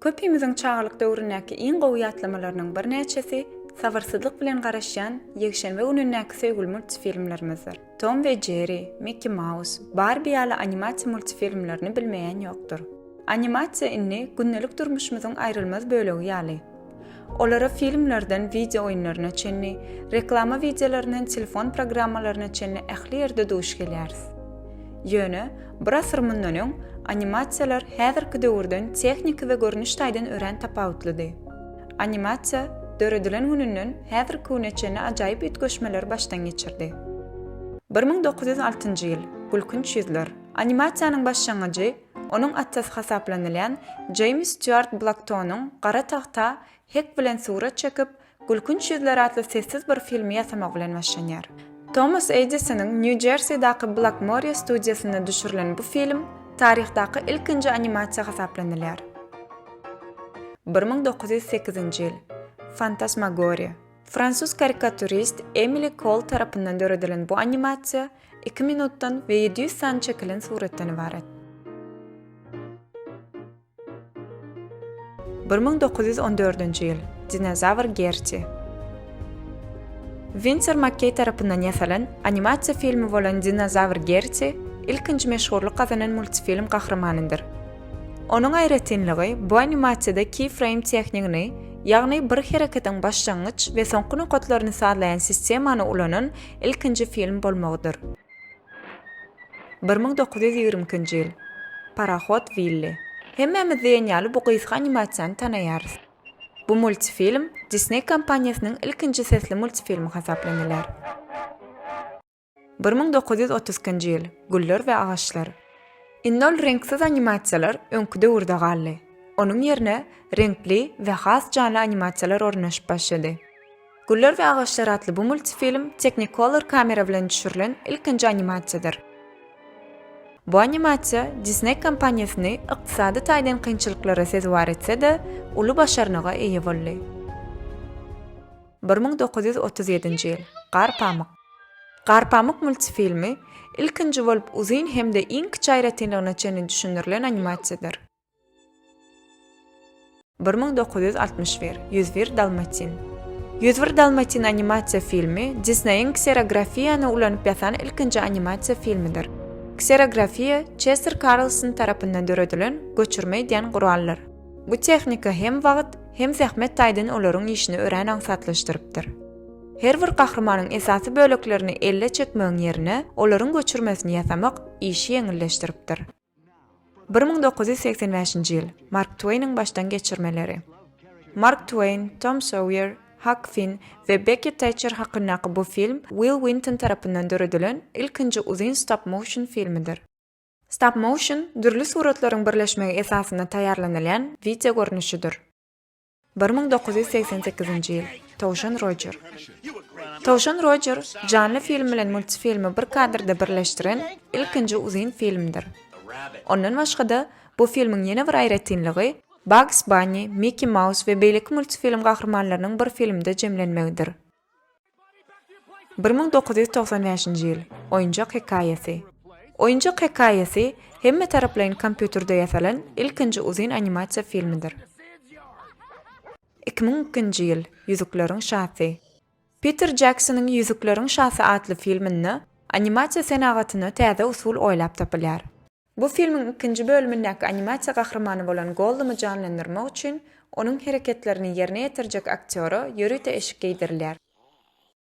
Köpimiziň çagalyk döwründäki iň gowy ýatlamalarynyň birnäçesi, sabyrsyzlyk bilen garaşýan ýekşenbe günündäki söýgüli multfilmlerimizdir. Tom we Jerry, Mickey Mouse, Barbie ýaly animasiýa multifilmlerini bilmeýän ýokdur. Animasiýa indi gündelik durmuşymyzyň aýrylmaz bölegi ýaly. Olara filmlerden wideo oýunlaryna çenli, reklama wideolaryndan telefon programmalaryna çenli ähli ýerde duş gelýäris. Ýöne, bir asyr mundan öň animasiýalar häzirki döwürden tehniki we görnüş taýdan örän tapawutlydy. Animasiýa döredilen gününden häzirki güne çenli ajaýyp üýtgeşmeleri başdan geçirdi. Bir müň dokuz ýüz altynjy ýyl, Gülkünç ýüzler. Animasiýanyň başlangyjy onuň atasy hasaplanylýan Jeýms Stýuart Blaktonyň gara tagta hek bilen surat çekip, Gülkünç ýüzler atly sessiz bir filmi ýasamagy bilen başlanýar. Tomas Edisonyň Nýu-Jersidaky Blakmoriýa studiýasynda düşürilen bu film taryhdaky ilkinji animasiýa hasaplanylýar. Bir müň dokuz ýüz sekizinji ýyl. Fantasmagoria. Fransuz karikaturist Emili Kol tarapyndan döredilen bu animasiýa iki minutdan we ýedi ýüz sany çekilen suratdan ybarat. Bir müň dokuz ýüz on dördünji ýyl. Dinozawr Gerti. Winser Makkeý tarapyndan ýasalan animasiýa filmi bolan Dinozawr Gerti ilkinji meşhurlyk gazanan multfilm gahrymanyndyr. Onuň aýratynlygy bu animasiýada keyframe tehnigini, ýagny bir hereketiň başlangyç we soňky nokatlaryny sazlaýan sistemany ulanan ilkinji film bolmagydyr. Bir müň dokuz ýüz ýigrimi ikinji ýyl. Parohod Willi. Hemmämiz diýen ýaly bu gysga animasiýany tanaýarys. Bu multifilm Disney kompaniýasynyň ilkinji sesli multifilmi hasaplanylar. Bir müň dokuz ýüz otuz ikinji ýyl, Güller we agaçlar. Indi ol reňksiz animasiýalar öňki döwürde galdy. Onuň ýerine reňkli we has janly animasiýalar ornaşyp başlady. Güller we agaçlar atly bu multifilm Technicolor kamera bilen düşürilen ilkinji animasiýadyr. Bu animasiýa Disney kompaniýasyny ykdysady taýdan kynçylyklara sezewar etse-de, uly başarnyga eýe boldy. Bir müň dokuz ýüz otuz ýedinji ýyl, Gar pamyk. Garpamyk multfilmi ilkinji bolup uzyn hem-de iň kiçi aýratynlygyna çenli düşündirilen animasiýadyr. Bir müň dokuz ýüz altmyş bir Ýüz bir dalmatin Ýüz bir dalmatin animasiýa filmi Disneýiň kserografiýany ulanyp ýasan ilkinji animasiýa filmidir. Kserografiýa Çester Karlson tarapyndan döredilen göçürme edýän guraldyr. Bu tehnika hem wagt, hem zähmet taýdan olaryň işini örän aňsatlaşdyrypdyr. Her bir gahrymanyň esasy böleklerini elle çekmegiň ýerine, olaryň göçürmesini ýasamak işi ýeňilleşdiripdir. Bir müň dokuz ýüz segsen bäşinji ýyl, Mark Tweýniň başdan geçirmeleri. Mark Tweýn, Tom Soýer, Hak Finn we Bekki Täçer hakyndaky bu film Wil Winton tarapyndan döredilen ilkinji uzyn stop-motion filmidir. Stop-motion, dürli suratlaryň birleşmegi esasynda taýýarlanylýan wideo görnüşidir. Bir müň dokuz ýüz segsen sekizinji ýyl, Towşan Rojer. Towşan Rojer janly film bilen multfilmi bir kadrda birleşdiren ilkinji uzyn filmdir. Ondan başga-da, bu filmiň ýene bir aýratynlygy Bugs Bunny, Mickey Mouse we beýleki multfilm gahrymanlarynyň bir filmde jemlenmegidir. Bir müň dokuz ýüz togsan bäşinji ýyl, Oýunjak hekaýasy. Oýunjak hekaýasy hemmetaraplaýyn kompýuterde ýasalan ilkinji uzyn animasiýa filmidir. Iki müň ikinji ýyl, Ýüzükleriň şasy. Piter Jeksonyň Ýüzükleriň şasy atly filminde animasiýa senagatyna täze usul oýlap tapylýar. Bu filmiň ikinji bölümindäki animasiýa gahrymany bolan Gollumy janlandyrmak üçin onuň hereketlerini ýerine ýetirjek aktýora ýörite eşik geýdirilýär.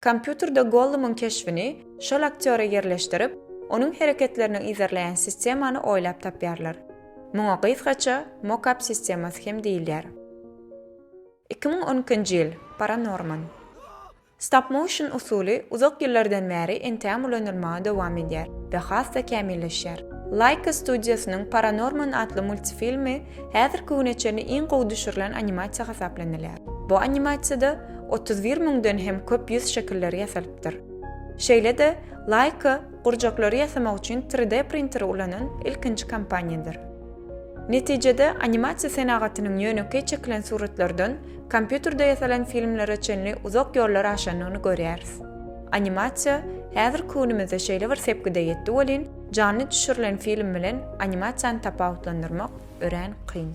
Kompýuterde Gollumyň keşbini şol aktýora ýerleşdirip, onuň hereketlerini yzarlaýan sistemany oýlap tapýarlar. Muňa gysgaça Mocap sistemasy hem diýilýär. Iki müň on ikinji ýyl, Paranorman. Stop-motion usuly uzak ýyllardan bäri entägem ulanylmaga dowam edýär we has-da kämilleşýär. Laika studiýasynyň Paranorman atly multifilmi häzirki güne çenli iň gowy düşürilen animasiýa hasaplanylýar. Bu animasiýada otuz bir müňden hem köp ýüz şekilleri ýasalypdyr. Şeýle-de, Laika gurjaklary ýasamak üçin tri-de printeri ulanan ilkinji kompaniýadyr. Netijede, animasiýa senagatynyň ýönekeý çekilen suratlardan kompýuterde ýasalan filmlere çenli uzak ýollar aşandygyny görýäris. Animasiýa häzirki günümizde şeýle bir sepgide ýetdi welin, janly düşürilen film bilen animasiýany tapawutlandyrmak örän kyn.